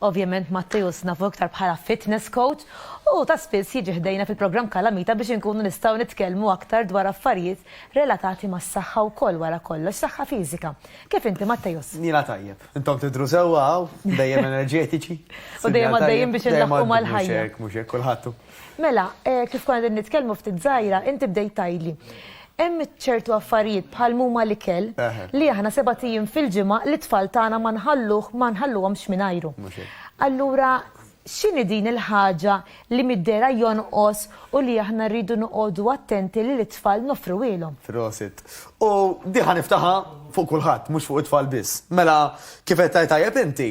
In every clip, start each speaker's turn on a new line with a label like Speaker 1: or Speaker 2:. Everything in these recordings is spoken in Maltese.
Speaker 1: Ovvjament Matteus nafu iktar bħala fitness coach u ta' spiss jiġi ħdejna fil-programm Kalamita biex inkunu nistgħu nitkellmu aktar dwar affarijiet relatati mas-saħħa wkoll wara kollox saħħa fiżika. Kif inti Matteus? Jiena tajjeb. Intom
Speaker 2: tidhru sewwa hawn, dejjem enerġetiċi. U dejjem għaddejjin
Speaker 1: biex inlaħħqu mal-ħajja. Mhux hekk, mhux hekk, kulħadd
Speaker 2: Mela,
Speaker 1: kif konna qegħdin nitkellmu ftit żgħira, inti bdejt tgħidli. Hemm ċertu affarijiet bħal muma l-ikel li aħna seba' ijiem fil-ġimgħa li tfal tagħna ma nħalluh ma nħalluhomx mingħajru. Allura x'inhi din il-ħaġa li middera jonqos u li aħna rridu noqogħdu attenti li l-itfal nofruhielhom? Prosit. U
Speaker 2: diħa niftaħa fuq kulħadd, mhux fuq it-tfal biss. Mela, kif qed tajjeb inti,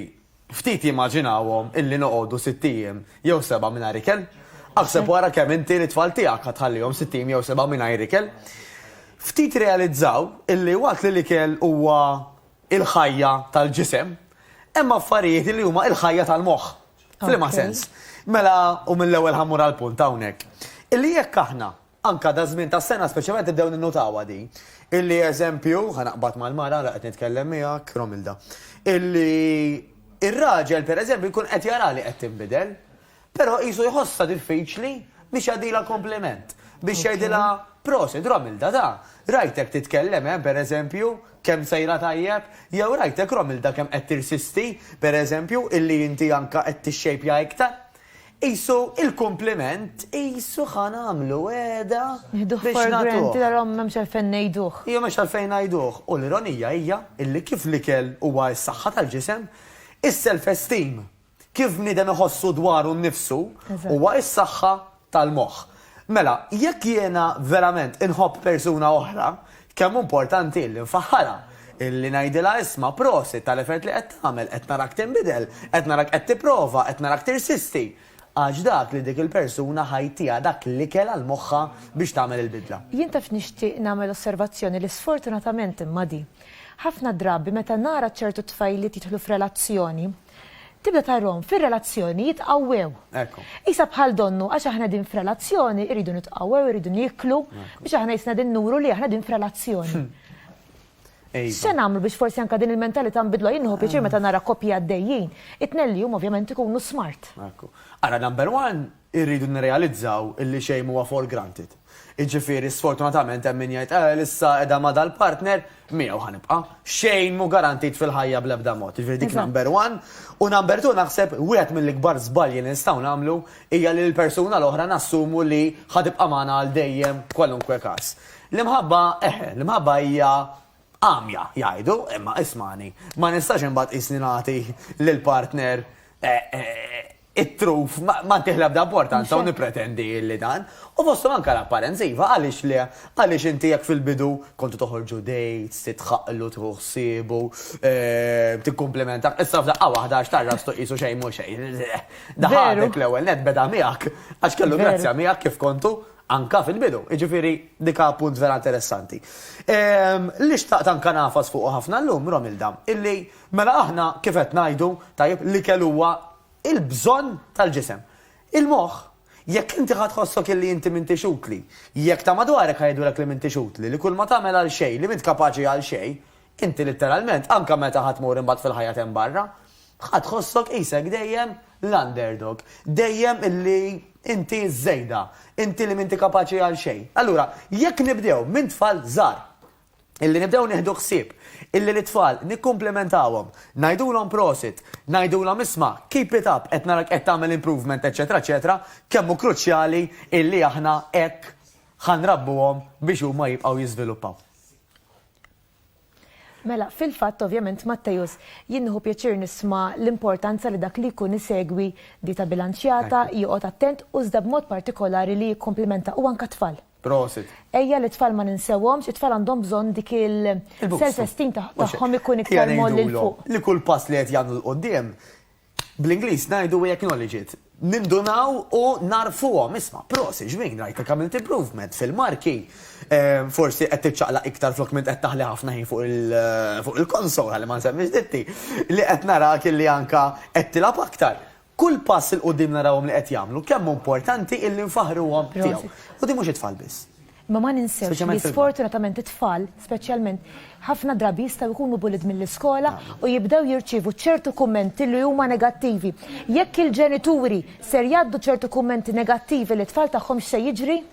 Speaker 2: Ftit jimmaġinawhom illi noqogħdu sitt ijiem jew sebgħa mingħajr ikel. Aħseb wara kemm inti lit-tfal tiegħek ħa tħallihom sitt ijiem jew sebgħa mingħajr ikel. Ftit irrealizzaw illi waqt li l-ikel huwa il-ħajja tal-ġisem, hemm affarijiet illi huma il-ħajja tal-moħħ. F'liema sens? Mela, u mill-ewwel ħa mmur għall-punt hawnhekk. Illi jekk aħna Anke daż-żmien tas-sena speċjalment nibdew ninnutawha din. Illi eżempju, ħa naqbad mal-mara ara qed nitkellem miegħek, Romilda, illi r-raġel pereżempju jkun qed jara li qed tinbidel, però qisu jħossha diffiċli biex jagħdilha kumpliment, biex jgħidilha prosit Romilda ta, rajtek titkellem eh, pereżempju, kemm sejra tajjeb, jew rajtek Romilda kemm qed tirsisti, pereżempju, illi inti anke qed tixxejpja iktar. Qisu il-kumpliment, qisu ħa nagħmlu wegħda biex nagħtuh. Allura m'hemmx għalfejn
Speaker 1: ngħiduh. Iva m'hemmx għalfejn ngħiduh.
Speaker 2: U l-ironija hija illi kif l-ikel huwa s-saħħa tal-ġisem, is-self-esteem, kif bniedem iħossu dwaru nnifsu, huwa s-saħħa tal-moħħ. Mela, jekk jiena verament inħobb persuna oħra, kemm hu importanti illi nfaħħarha, illi ngħidilha isma' prosit tal-effert li qed tagħmel, qed narak tinbidel, qed narak qed tipprova, qed narak tirsisti. Għax dak li dik il-persuna ħa jtiha dak l-ikel għal moħħha biex tagħmel il-bidla. Jien taf nixtieq
Speaker 1: nagħmel osservazzjoni li sfortunatament imma di. Ħafna drabi meta nara ċertu tfajliet jidħlu f'relazzjoni, Tibda tarhom fir-relazzjoni jitqawwew. Ekku. Isa bħal donnu għax aħna din f'relazzjoni irridu nitqawwew, irridu niklu biex aħna jisna din nuru li aħna din f'relazzjoni. Hmm. Se nagħmlu biex forsi anka din il-mentalità nbidlu jien nħu pjaċir meta nara koppji għaddejjin. It-tnelli huma ovvjament ikunu smart. Ekku. Ara number
Speaker 2: one irridu nirrealizzaw illi xejn m'huwa for granted. Jiġifieri sfortunatament hemm min jgħid Ewell issa qiegħda ma' dal-partner, miegħu ħa nibqa'. Xejn mhu garantit fil-ħajja bl-ebda mod. Jiġifieri dik number one. U number two naħseb wieħed mill-ikbar żbalji li nistgħu nagħmlu hija li l-persuna l-oħra nassumu li ħa tibqa' magħna għal dejjem kwalunkwe każ. L-imħabba, eħe, l-imħabba hija għamja, jgħidu, imma ismagħni, ma nistax imbagħad qisni nagħti lill-partner it-truf ma tieħ l-ebda importanza u nippretendi li dan. U fosthom anke l-apparenza iva għaliex le, għaliex inti jekk fil-bidu kontu toħorġu dates, titħaqqlu, tieħu ħsiebu, eh, tikkumplimenta, issa f'daqqa waħda għax tarra stu qisu xejn mhux xejn. Daħadek l-ewwel net beda miegħek għax kellu grazzja miegħek kif kontu anka fil-bidu. Iġifiri, dika punt vera interessanti. Ehm, li xtaqt anka nafas fuq ħafna l-lum, Romilda, illi Mela aħna kif qed ngħidu, tajjeb, l-ikel huwa l-bżonn tal-ġisem. Il-moħħ, jekk inti ħa tħossok illi inti m'intix utli, jekk ta' madwarek ħa jgħidulek li m'intix utli, li kulma tagħmel għal xejn, li m'int kapaċi għal xejn, inti litteralment, anke meta ħa tmur imbagħad fil-ħajja t'hemm barra, ħa tħossok qisek dejjem l-underdog, dejjem illi inti ż-żejda, inti li m'inti kapaċi għal xejn. Allura, jekk nibdew minn tfal żgħar, illi nibdew nieħdu ħsieb illi lit-tfal nikkumplimentawhom, ngħidulhom prosit, ngħidulhom isma' keep it up qed narak qed tagħmel improvement eċċetera eċċetera, kemm hu kruċjali illi aħna hekk ħa nrabbuhom biex huma jibqgħu jiżviluppaw.
Speaker 1: Mela, fil-fatt ovvjament Mattejus jien nieħu pjaċir nisma' l-importanza li dak li jkun isegwi dieta bilanċjata, joqgħod attent u żda b'mod partikolari li jikkomplimenta u anka tfal. Prosit. Ejja
Speaker 2: li tfal ma
Speaker 1: ninsewhomx, it-tfal għandhom bżonn dik il-self-esteem tagħhom ikun iktar moll il fuq. Li kull pass li qed jagħmlu
Speaker 2: l-qudiem, bl-Ingliż ngħidu we acknowledge it. Nindunaw u narfuhom, isma' prosit ġmiel rajtek għamilt improvement fil-marki, ehm, forsi qed tiċċaqlaq iktar flok minn qed taħli ħafna ħin fuq il-konsol ħalli ma nsemmix ditti, li qed narak li anka qed tilgħab aktar. Kull pass 'il quddiem narawhom li qed jagħmlu, kemm hu importanti illi nfaħħruhom tiegħu. U din mhux it-tfal biss. Imma ma
Speaker 1: ninsewx li sfortunatament it-tfal, speċjalment, ħafna drabi jistgħu jkunu bullied mill-iskola u jibdew jirċievu ċertu kummenti li huma negattivi. Jekk il-ġenituri ser jgħaddu ċertu kummenti negattivi lit-tfal tagħhom x'se jiġri?